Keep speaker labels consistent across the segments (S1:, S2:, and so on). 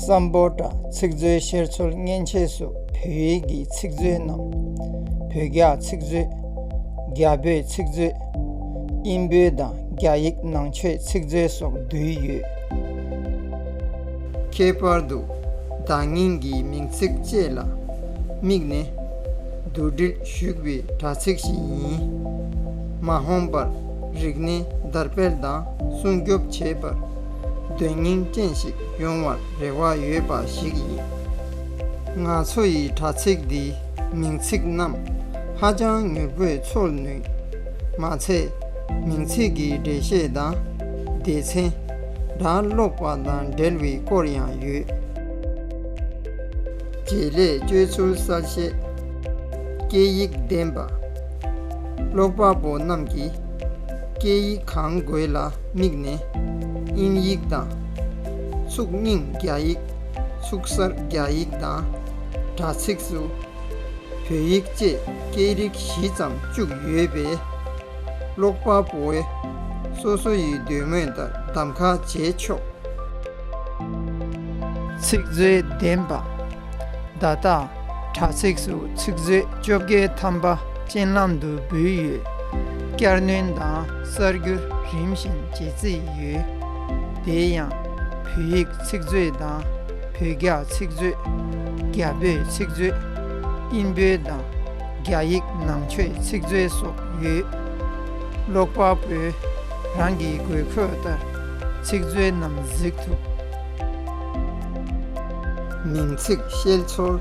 S1: བསམ་པོ་དང་ཚིག་མཛོད་བཤེར་འཚོལ་མཉེན་ཆས་སོགས་བོད་ཡིག་གི་ཚིག་མཛོད་རྣམས། བོད་རྒྱ་ཚིག་མཛོད། རྒྱ་བོད་ཚིག་མཛོད། དབྱིན་བོད་དང་རྒྱ་ཡིག་ནང་ཆོས་ཚིག་མཛོད་སོགས་འདུས་ཡོད། ཁྱད་པར་དུ་བརྡ་རྙིང་གི་མིང་ཚིག་བཅས་ལ་དམིགས་ནས། བསྡུ་སྒྲིལ། བཞུགས་པའི་དྲ་ཚིགས་ཤིག་ཡིན། མ་ཧོམ་པར་རིག་གནས་དར་སྤེལ་དང་སྲུང་སྐྱོབ་བྱེད་པར་དོན་སྙིང་ཅན་ཞིག་ཡོང་བར་རེ་བ་ཡོད་པ་ཞིག་ཡིན། ང་ཚོ་ཡི་དྲ་ཚིགས་འདིའི་མིང་ཚིག་རྣམས་ཧ་ཅང་མྱུར་པོས་ཚོར་ནུས། མ་ཚད། མིང་ཚིག་གི་འགྲེལ་བཤད་དང་སྡེ་ཚན། སྒྲ་ཀློག་པ་དང་འབྲེལ་བའི་སྐོར་ཡང་ཡོད། རྗེས་ལས་བཅོས་ཚུལ་གསར་བཤད། སྐད་ཡིག་ལྡན་པ། ཀློག་པ་པོ་རྣམས་ཀྱིས་སྐད་ཡིག་གང་དགོས་ལ་དམིགས་ནས་དབྱིན་ཡིག་དང། ཚུགས་རྙིང་རྒྱ་ཡིག། ཚུགས་གསར་རྒྱ་ཡིག་དང། དྲ་ཚིགས་སུ་བོད་ཡིག་བཅས་སྐད་རིགས་བཞི་ཙམ་བཅུག་ཡོད་པས། ཀློག་པ་པོའི་སོ་སོ་ཡི་འདོད་མོས་ལྟར་གདམ་ག་བྱས་ཆོག། ཚིག་མཛོད་ལྡན་པ། བརྡ་དག། དྲ་ཚིགས་སུ་ཚིག་མཛོད་བཅོ་བརྒྱད་ཐམ་པ་ཅན་ལམ་དུ་འབུལ་ཡོད། བསྐྱར་སྣོན་དང་གསར་འགྱུར་རིམ་བཞིན་བརྗེ་རྩིས་ཡོད། དེ་ཡང། བོད་ཡིག་ཚིག་མཛོད་དང། བོད་རྒྱ་ཚིག་མཛོད། རྒྱ་བོད་ཚིག་མཛོད། དབྱིན་བོད་དང། རྒྱ་ཡིག་ནང་ཆོས་ཚིག་མཛོད་སོགས་ཡོད། ཀློག་པ་པོས་རང་གི་དགོས་མཁོ་ལྟར་ཚིག་མཛོད་རྣམས་གཟིགས་ཐུབ། མིང་ཚིག་ཤེལ་ཆོལ།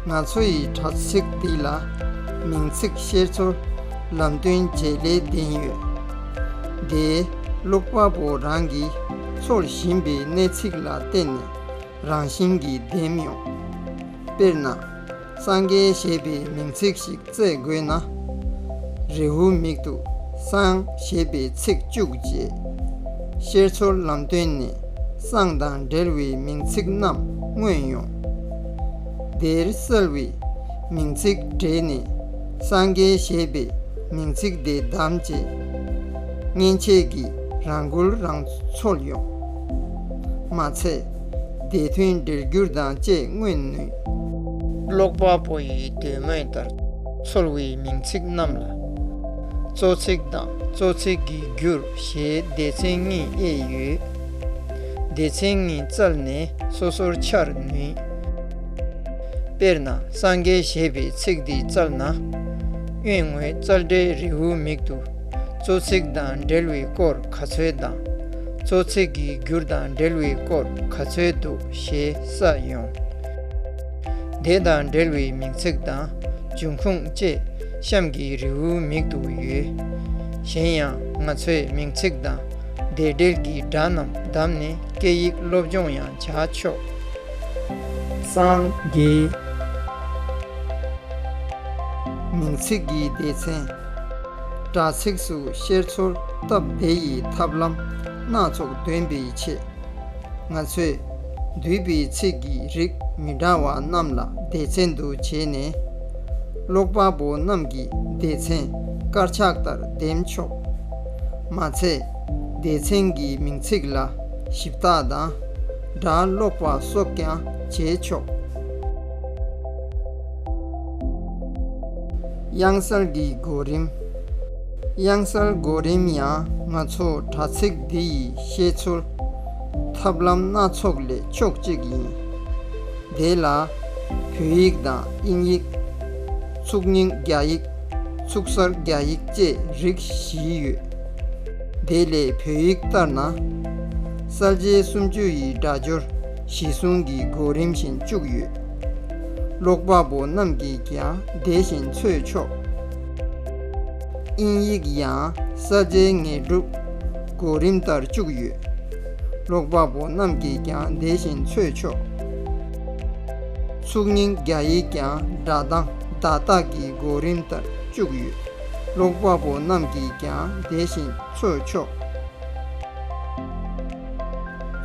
S1: ང་ཚོ་ཡི་དྲ་ཚིགས་འདི་ལ་མིང་ཚིག་ཤེལ་ཆོལ་ལམ་སྟོན་བརྗེ་ལེ་ལྡན་ཡོད། དེས་ཀློག་པ་པོ་རང་གིས་ཚོར་བཞིན་པའི་གནད་ཚིག་ལ་བརྟེན་ནས་རང་བཞིན་གྱིས་འདེམས་ཡོང། དཔེར་ན། སངས་རྒྱས་ཞེས་པའི་མིང་ཚིག་ཞིག་བཙལ་དགོས་ན། རེའུ་མིག་ཏུ་སངས་ཞེས་པའི་ཚིག་བཅུག་རྗེས། ཤེར་ཚོར་ལམ་སྟོན་ནས་སངས་དང་འབྲེལ་བའི་མིང་ཚིག་རྣམས་མངོན་ཡོང། དེར་གསལ་བའི་མིང་ཚིག་བྲིས་ནས་སངས་རྒྱས་ཞེས་པའི་མིང་ཚིག་དེ་བདམས་རྗེས། མཉེན་ཆས་ཀྱིས་རང་འགུལ་རང་འཚོལ་ཡོང། མ་ཚད་དེ་དོན་འགྲེལ་བསྒྱུར་དང་བཅས་མངོན་ནུས། ཀློག་པ་པོ་ཡི་འདོད་མོས་ལྟར་ཚོར་བའི་མིང་ཚིག་རྣམས་ལ། གཙོ་ཚིག་དང་གཙོ་ཚིག་གི་རྒྱུར་ཞེས་སྡེ་ཚན་གཉིས་དབྱེ་ཡོད། སྡེ་ཚན་གཉིས་བཙལ་ནས་སོ་སོར་འཆར་ནུས། དཔེར་ན་སངས་རྒྱས་ཞེས་པའི་ཚིག་འདི་བཙལ་ན། གཡོན་ངོས་རྩལ་འགྲན་རེའུ་མིག་ཏུ་གཙོ་ཚིག་དང་འབྲེལ་བའི་སྐོར་ག་ཚོད་དང། གཙོ་ཚིག་གི་རྒྱུར་དང་འབྲེལ་བའི་སྐོར་ག་ཚོད་འདུག་ཞེས་ས་ཡོང། དེ་དང་འབྲེལ་བའི་མིང་ཚིག་དང་འབྱུང་ཁུངས་བཅས་གཤམ་གྱི་རེའུ་མིག་ཏུ་ཡོད། གཞན་ཡང་ང་ཚོས་མིང་ཚིག་དང་དེ་འབྲེལ་གྱི་སྒྲ་རྣམས་བདམས་ནས་སྐད་ཡིག་སློབ་སྦྱོང་ཡང་བྱ་ཆོག། སངས་རྒྱས། མིང་ཚིག་གི་སྡེ་ཚན། དྲ་ཚིགས་སུ་བཤེར་འཚོལ་སྟབས་བདེ་ཡི་ཐབས་ལམ་སྣ་ཚོགས་འདོན་པའི་ཆེད། ང་ཚོས་འདུས་པའི་ཚིག་གི་རིགས་མི་འདྲ་བ་རྣམས་ལ་སྡེ་ཚན་དུ་བྱས་ནས། ཀློག་པ་པོ་རྣམས་ཀྱིས་སྡེ་ཚན་དཀར་ཆག་ལྟར་འདེམས་ཆོག། མ་ཚད། སྡེ་ཚན་གྱི་མིང་ཚིག་ལ་ཞིབ་བཏགས་དང་སྒྲ་སློག་པ་སོགས་ཀྱང་བྱས་ཆོག། དབྱངས་གསལ་གྱི་གོ་རིམ། དབྱངས་གསལ་གོ་རིམ་ཡང་ང་ཚོ་དྲ་ཚིགས་འདི་ཡི་བཤད་ཚུལ། ཐབས་ལམ་སྣ་ཚོགས་ལས་ཕྱོགས་གཅིག་ཡིན། དེ་ལ། བོད་ཡིག་དང་དབྱིན་ཡིག། ཚུགས་རྙིང་རྒྱ་ཡིག། ཚུགས་གསར་རྒྱ་ཡིག་བཅས་རིགས་བཞི་ཡོད། དེ་ལས་བོད་ཡིག་ལྟར་ན། གསར་བརྗེའི་སུམ་བཅུ་ཡི་སྒྲ་སྦྱོར་གཞི་བཟུང་གི་གོ་རིམ་བཞིན་བཅུག་ཡོད། ཀློག་པ་པོ་རྣམས་ཀྱིས་ཀྱང་དེ་བཞིན་འཚོལ་ཆོག། དབྱིན་ཡིག་ཡང་ས་ཆའི་ངེས་སྒྲུབ་གོ་རིམ་ལྟར་བཅུག་ཡོད། ཀློག་པ་པོ་རྣམས་ཀྱིས་ཀྱང་དེ་བཞིན་འཚོལ་ཆོག། ཚུགས་རྙིང་རྒྱ་ཡིག་ཀྱང་སྒྲ་གདངས་བརྡ་རྟགས་ཀྱི་གོ་རིམ་ལྟར་བཅུག་ཡོད། ཀློག་པ་པོ་རྣམས་ཀྱིས་ཀྱང་དེ་བཞིན་འཚོལ་ཆོག།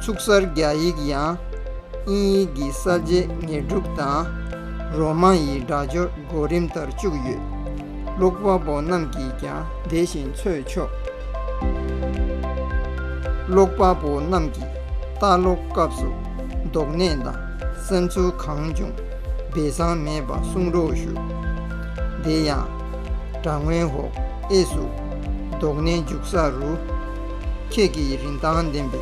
S1: ཚུགས་གསར་རྒྱ་ཡིག་ཡང་དབྱིན་ཡིག་གི་ས་ཆའི་ངེས་སྒྲུབ་དང་རོ་མ་ཡི་སྒྲ་སྦྱོར་གོ་རིམ་ལྟར་བཅུག་ཡོད། ལུག་དཔའ་བོ་རྣམས་ཀྱིས་ཀྱང་དེ་བཞིན་འཚོས་ཆོག། ལུག་དཔའ་བོ་རྣམས་ཀྱིས་ལྟ་ཀློག་སྐབས་སུ་རྡོག་སྣེ་དང་བསམ་ཚུལ་གང་བྱུང་སྦས་གསང་མེད་པ་གསུང་རོགས་ཞུ། དེ་ཡང། དྲ་ངོས་ཧོ་ཨེ་སུ། རྡོག་སྣེ་འཇུག་ས་རུ། ཁྱེད་ཀྱིས་རིན་ཐང་ལྡན་པའི་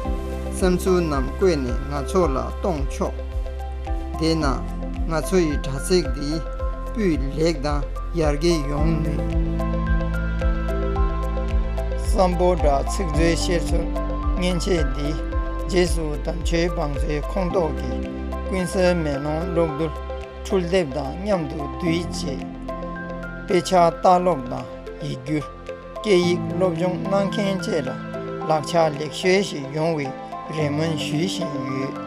S1: བསམ་ཚུལ་རྣམས་བཀོད་ནས་ང་ཚོ་ལ་གཏོང་ཆོག། དེས་ན་ང་ཚོ་ཡི་དྲྭ་ཚིགས་འདི་སྤུས་ལེགས་དང་ཡར་རྒྱས་ཡོང་ནུས། བསམ་བོ་དྲྭ་ཚིགས་འཛོལ་བཤེར་ཚུར་མཉེན་ཆས་འདི་རྗེས་སུ་དམ་ཆོས་བང་མཛོད་ཁོངས་གཏོགས་ཀྱི་ཀུན་གསལ་མེ་ལོང་གློག་རྡུལ་འཕྲུལ་དེབ་དང་མཉམ་དུ་བསྡུས་རྗེས། དཔེ་ཆ་ལྟ་ཀློག་དང་ཡིག་སྒྱུར། སྐད་ཡིག་སློབ་སྦྱོང་གནང་མཁན་བཅས་ལ་ལག་ཆ་ལེགས་ཤོས་ཤིག་ཡོང་བའི་རེ་སྨོན་ཞུ་བཞིན་ཡོད།